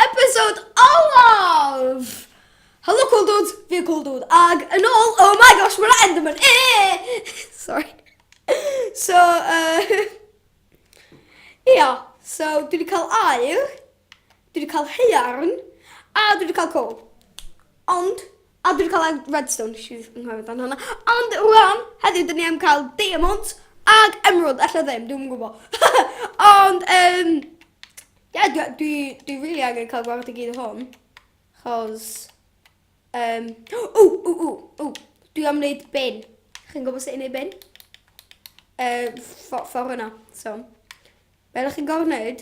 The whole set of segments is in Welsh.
Episode olaf! Helo Cool Dudes, fi Cool Dude, ag yn ôl, oh my gosh, mae'r Enderman, eee! Sorry. So, uh, ia, so dwi wedi cael air, dwi wedi cael heiarn, a dwi wedi cael coal. Ond, A dwi 'di ca'l ed- redstone nesh i jys anghofio amdan honna. Ond rŵan heddiw 'dyn ni am ca'l diamonds ag emerald ella ddim dwi'm yn gwbo. Ond yym ie dwi a- dwi dwi rili angen ca'l gwared i gyd o hwn. 'Chos yym ww ww ww ww dwi am neud bin. Chi'n gwbo sut i neud bin? Yy ffo- ffor yna so. Be' 'dach chi'n gor'o' neud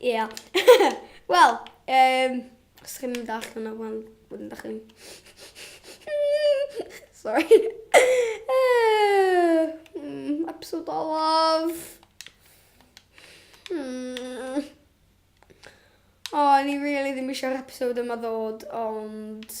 Ia. Wel, um, os chi'n mynd allan o fan, wedyn da chi'n... Sorry. Uh, mm, episode olaf. Hmm. O, oh, ni really ddim eisiau'r episode yma ddod, ond...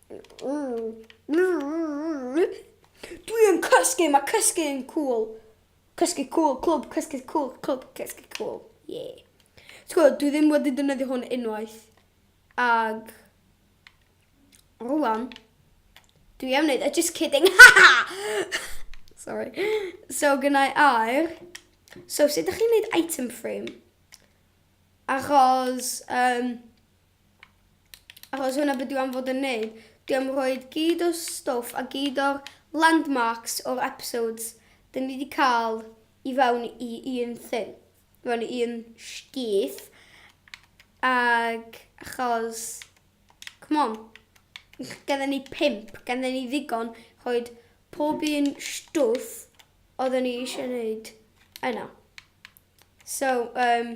Dwi yn cysgu, mae cysgu yn cool. Cysgu cool, clwb, cysgu cool, clwb, cysgu cool. Ie. Ti'n gwybod, dwi ddim wedi defnyddio hwn unwaith. Ag... Rwan. Dwi am wneud, a just kidding. Sorry. So, gynnau air. So, sut ydych chi'n wneud item frame? Achos, um, Achos hwnna be dwi am fod yn neud. Dwi am rhoid gyd o stwff a gyd o'r landmarks o'r episodes 'dyn ni 'di cael i fewn i un thing. I fewn i un sgith. Ag achos... Come on. Gandden ni pimp, gandden ni ddigon rhoid pob un stwff oedden ni eisiau neud yna. So, um,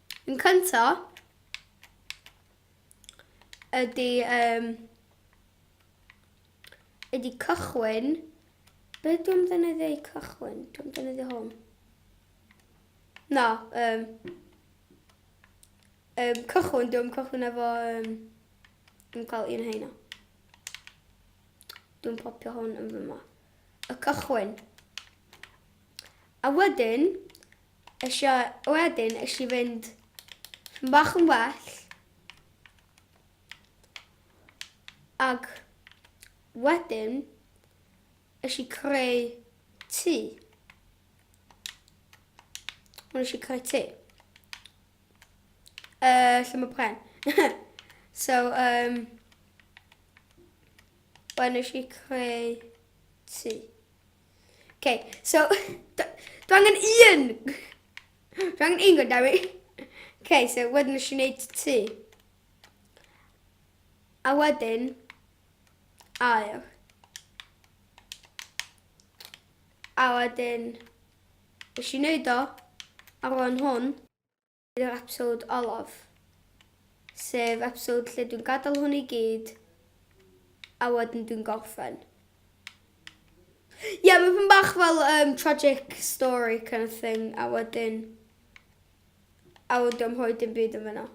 Yn cynta, ydy, um, ydy cychwyn. Be dwi'n ddefnyddio i cychwyn? Dwi'n ddefnyddio hwn. Na, um, um, cychwyn, dwi'n cychwyn efo, um, dwi'n cael un heina. Dwi'n popio hwn yn fyma. Y cychwyn. A wedyn, Nes i wedyn, nes i fynd yn bach yn well. Ac wedyn, nes i creu tŷ. Nes i creu tŷ. Uh, lle mae pren. so, um, wedyn nes i creu tŷ. Okay, so, dwi angen un! Dwi angen un gwrdd i. Okay, so wedyn nes i wneud ti. A wedyn, ail. A wedyn, nes i wneud o, ar ôl hwn, Hyn yw'r episod olaf, sef episod lle dwi'n gadael hwn i gyd a wedyn dwi'n gorffen. Ie, yeah, mae fy bach fel um, tragic story kind of thing, a wedyn... A wedyn dwi'n hoi dim byd yn fyna.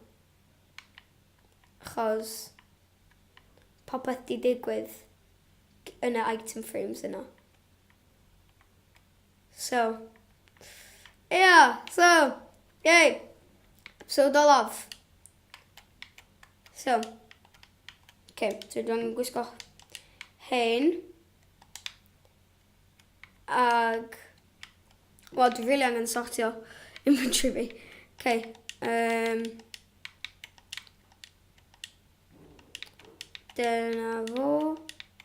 Chos popeth di digwydd yn y item frames yna. So, ia, so, yay, episode olaf. So, okay, so dwi'n gwisgo hyn. Ag, wel, dwi'n rili angen sortio inventory fi. Okay, um, dyna fo.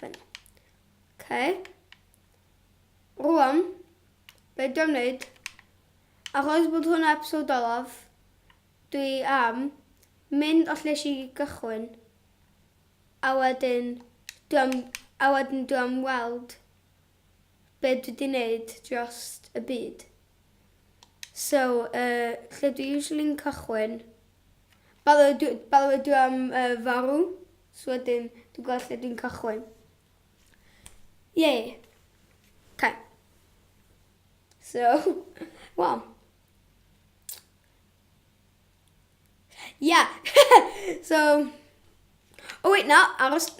Fel yna. Okay. Rwan, be dwi'n wneud, achos bod hwnna episod olaf, dwi am mynd o lleis i gychwyn, a wedyn dwi am, a wedyn dwi am weld be dwi 'di neud drost y byd. So yy lle dwi usually'n cychwyn by the way dwi by the way dwi am yy farw so wedyn dwi'n gweld lle dwi'n cychwyn. Ie. Okay. So wel Ia! so... O wait, na, aros.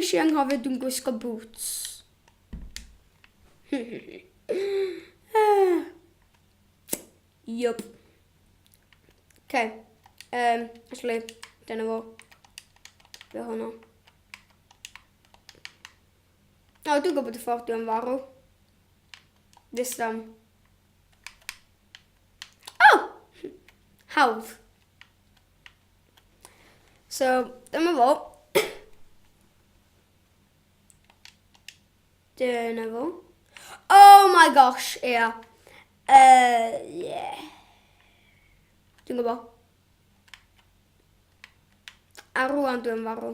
Nes i anghofio dwi'n gwisgo boots. Yup. Ok. Um, actually, dyna fo. Fe hwnna. O, dwi'n gwybod y ffordd dwi'n farw. This one. O! Oh! Hawdd. So, dyma fo. dyna fo. Oh my gosh, ia. Yeah. Uh, yeah. Dwi'n gwybod. A rwan dwi'n farw.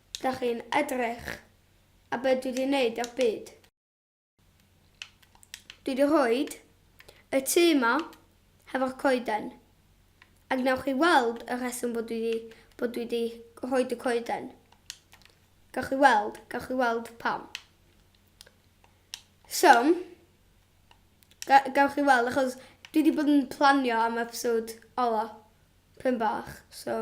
Dach chi'n edrych a be dwi di wneud ar byd. Dwi di rhoed y tŷ yma hefo'r coeden. A gwnewch chi weld y rheswm bod dwi di, bod dwi di rhoed y coeden. Gawch chi weld, gawch chi weld pam. So, gawch chi weld achos dwi di bod yn planio am episode ola. Pyn bach, so...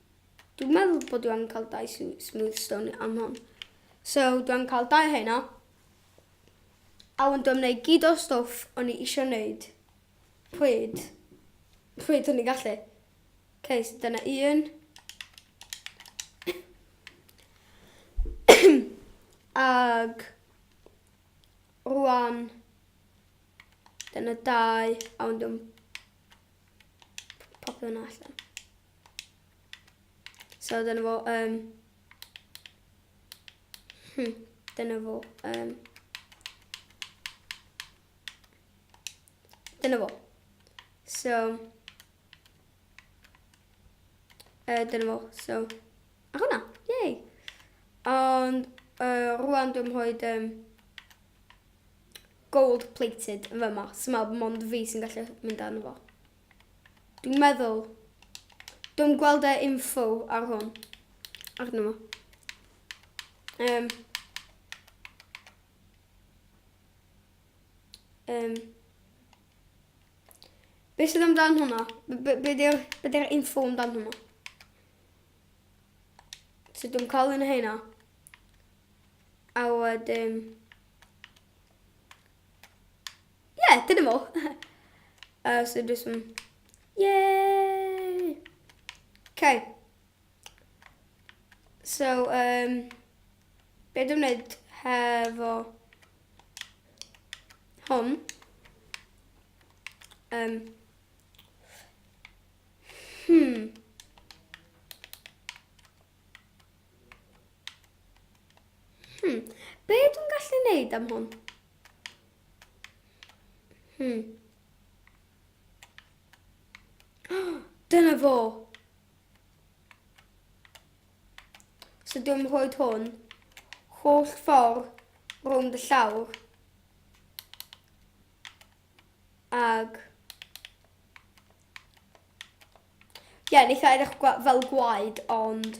Dwi'n meddwl bod dwi am cael dau smooth stone am hwn. So, dwi am cael dau hynna. A wan dwi'n gwneud gyd o'r stwff o'n i eisiau gwneud. Pryd? Pryd o'n i'n gallu? Okay, so dyna un. Ag rwan dyna dau a wan dwi'n popio hwnna allan. So dyna fo, um, hmm, dyna fo, um, dyna fo. So, uh, dyna fo, so, a hwnna, yay. Ond, uh, rwan dwi'n hoed, um, gold plated yn fyma, so mae mond fi sy'n gallu mynd â nhw fo. Dwi'n meddwl. Dwi'n gweld e info ar hwn. Arno fo. Um, um, be sydd amdan hwnna? Be, be, be di'r info amdan hwnna? So dwi'n cael un o hynna. A wedyn... Ie, yeah, dyna fo. uh, so just some... Yay! Okay. So, um, be dwi'n gwneud hefo hwn? Um, hmm. Hmm. Be dwi'n gallu gwneud am hwn? Hmm. Dyna fo. So dwi'n rhoi hwn holl ffordd rownd y llawr. Ag... Ie, yeah, neitha edrych fel gwaed, ond...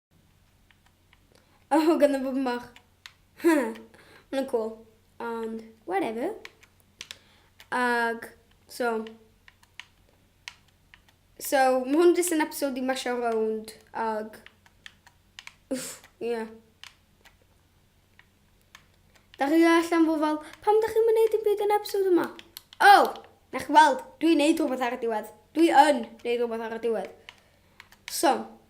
Oh, gan y fwbn bach. Mae'n cool. Ond, whatever. Ag, so... So, mae hwn jyst yn episod i masio rownd. Ag... Uff, ie. Yeah. Da chi allan fod fel, pam da chi'n mynd neud yn byd yn episod yma? Oh, na chi weld, dwi'n neud rhywbeth ar y diwedd. Dwi yn neud rhywbeth ar y diwedd. So,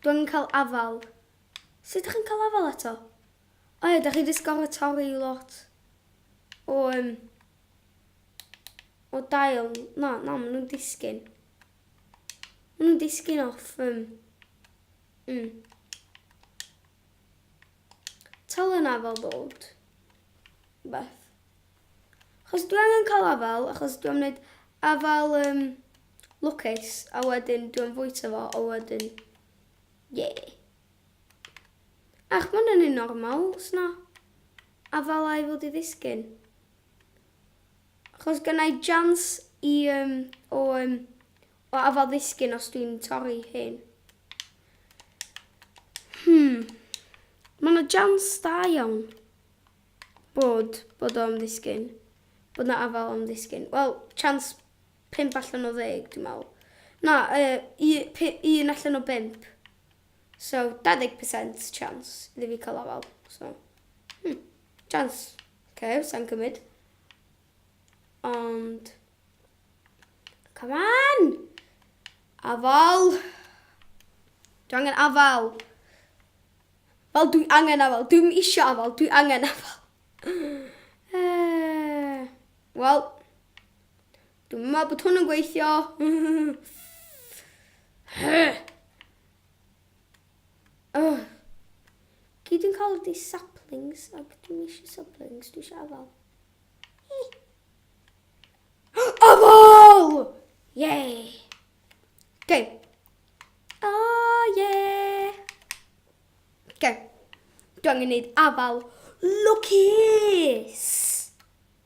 Dwi angen cael afal. Sut dach chi'n cael afal eto? O ia, dach chi 'di sgoro torri lot o um, o dail. Na, na, maen nhw'n disgyn. Maen nhw'n disgyn off. Um, mm. Tal yna fel bod. Beth. Achos dwi angen cael afal, achos dwi'n gwneud afal... Um, Lwcus, a wedyn dwi am fwyta fo, a wedyn... Ie. Ach, ma' hwnna'n un normal, s'na afalau fod i ddisgyn. Achos gynna i jans i yym o yym o afal ddisgyn os dwi'n torri hyn. Hmm. Ma' 'na jans da iawn bod bod o am ddisgyn. Bod 'na afal am ddisgyn. Wel, chance Pump allan o ddeg, dwi'n meddwl. Na, yy, u- pu- un allan o bump. So, 20% chance iddi fi cael afael. So, hmm, chance. OK, sa'n cymryd. Ond... Come on! Afael! Dwi angen afael. Fel dwi angen afael. Dwi'n eisiau afael. Dwi angen afael. Eh, Wel, Dwi'n meddwl bod hwn yn gweithio. oh. Gyd yn cael ydi saplings, ac dwi'n eisiau saplings, dwi'n eisiau afal. Afal! Yay! Okay. Oh, yeah! Okay. Dwi'n angen gwneud afal lwcus!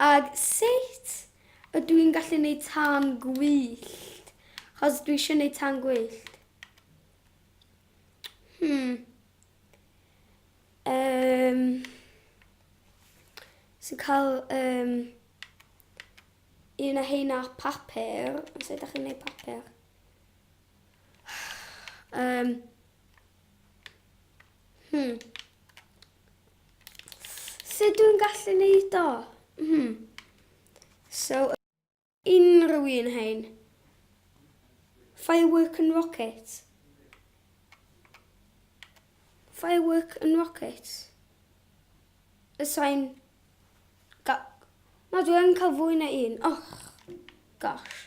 Ac sut ydw i'n gallu gwneud tân gwyllt? Chos dwi eisiau gwneud tân gwyllt. Hmm. Um, so cael um, un o heina papur. Os ydych chi'n gwneud papur. Um, hmm. Sut dwi'n gallu neud o? Hmm. So, unrhyw un hein. Firework and rocket. Firework and rocket. Y sain... Na, dwi'n cael fwy na un. Oh, gosh.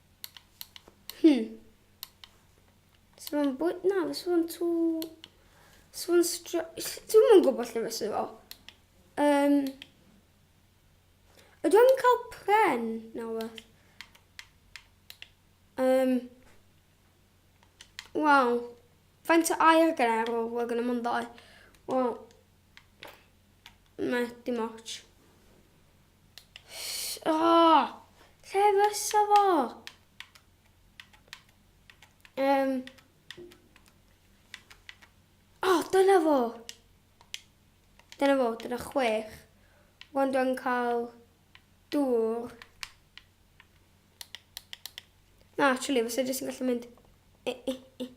Hmm. Sa fo'n bwyd? Na, fysa fo'n tŵ... Sa fo'n stra... Dwi'm yn gwybod lle fysa fo. Um, ydw i'n cael pren na wbeth? Um, Wel, faint o air gyda ar ôl? Wel, gyda mwyn ddau. Wel, na, dim ots. O! Lle fysa fo? Um. O, oh, dyna fo! Dyna fo, dyna chwech. Wan dwi'n cael dŵr. Na, actually, fysa jyst yn gallu mynd... E, e, e.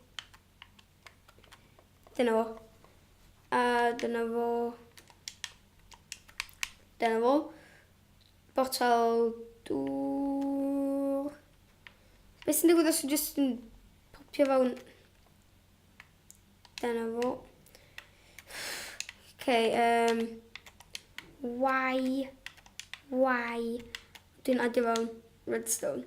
Dyna fo. A dyna fo. Dyna fo. Botal dŵr. Beth sy'n digwydd os yw jyst yn popio fewn? Dyna fo. Ok, um, why, why, dwi'n adio fewn redstone.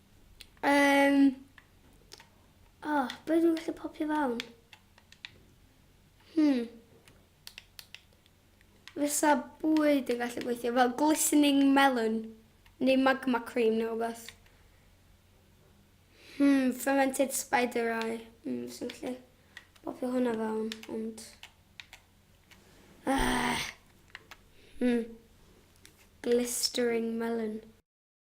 Um, o, oh, beth yn gallu popio fawn? Hmm. Fysa bwyd yn gallu gweithio fel glistening melon neu magma cream neu rhywbeth. Hmm, fermented spider eye. Hmm, sy'n gallu popio hwnna fawn, ond... Ah. Hmm. Glistering melon.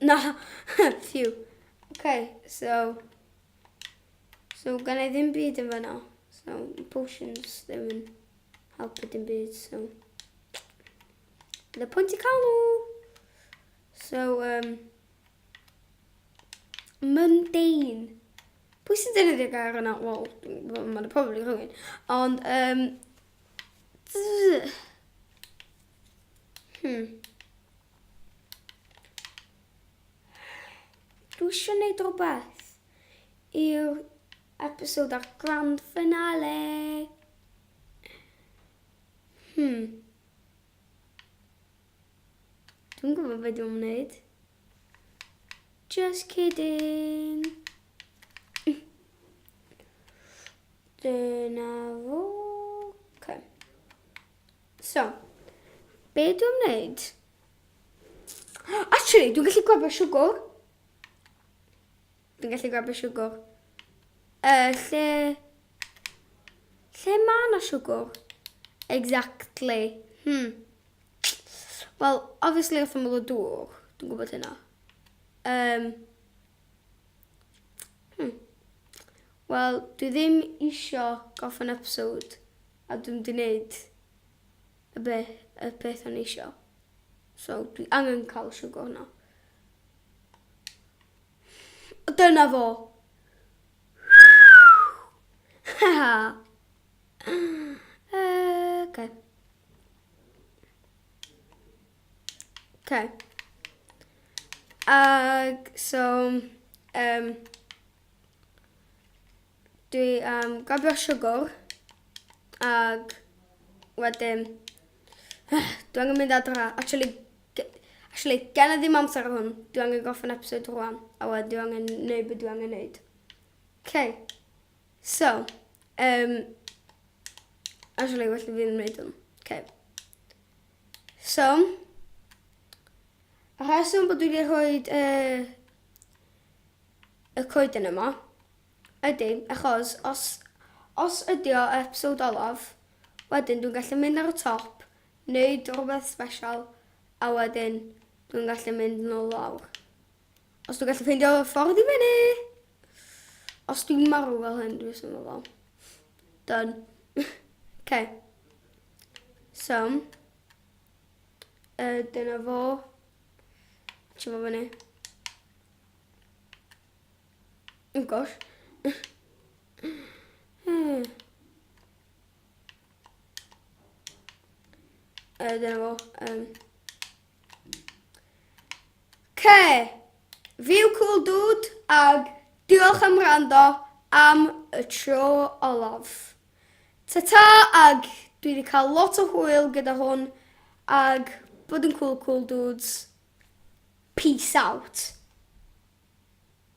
Na, phew. Okay, so... So, gan ei ddim byd yn fanna. So, potions ddim yn helpu dim byd, so... The pwynt i cael nhw! So, um... Mundane. Pwy sy'n defnyddio gair yna? Wel, mae'n probably rhywun. Ond, um... Hmm. Dwi eisiau gwneud rhywbeth i'r episod ar grand finale. Hmm. Dwi'n gwybod beth dwi'n gwneud. Just kidding. Dyna fo. Okay. So, be dwi'n wneud? Actually, dwi'n gallu gwybod siwgwr. Dwi'n gallu gwybod siwgwr. Uh, lle... Lle mae yna siwgwr? Exactly. Hmm. Wel, obviously wrth ymwyl y dŵr. Dwi'n gwybod hynna. Um, hmm. Wel, dwi ddim eisiau gofyn episode. A dwi'm di neud y be- y peth o'n i isio. So dwi angen ca'l y siwgr hwnna. A dyna fo! Oce. Oce. Ag so yym Dwi am gofio siwgr ag wedyn dwi angen mynd adra. Actually ge- actually gen i ddim amser ar hwn. Dwi angen gorffen episode rwan a wedyn dwi angen neud be dwi angen neud. Okay. So, um, actually well i fi ddim neud hwn. Okay. So, y rheswm bod dwi wedi rhoi uh, y coeden yma Ydy, achos os, os ydy o episode olaf, wedyn dwi'n gallu mynd ar y top, neud rwbeth special, a wedyn dwi'n gallu mynd nôl lawr. Os dwi'n gallu ffeindio y ffordd i fyny! Os dwi'n marw fel hyn, dwi'n syml fel. Done. okay. So, uh, dyna fo. Ti'n fo fyny. Oh gosh. hmm. Uh, dyna fo. Um. Okay. View cool dude ag diolch am rando am y tro olaf. Ta-ta ag dwi wedi cael lot o hwyl gyda hwn ag bod yn cool cool dudes. Peace out.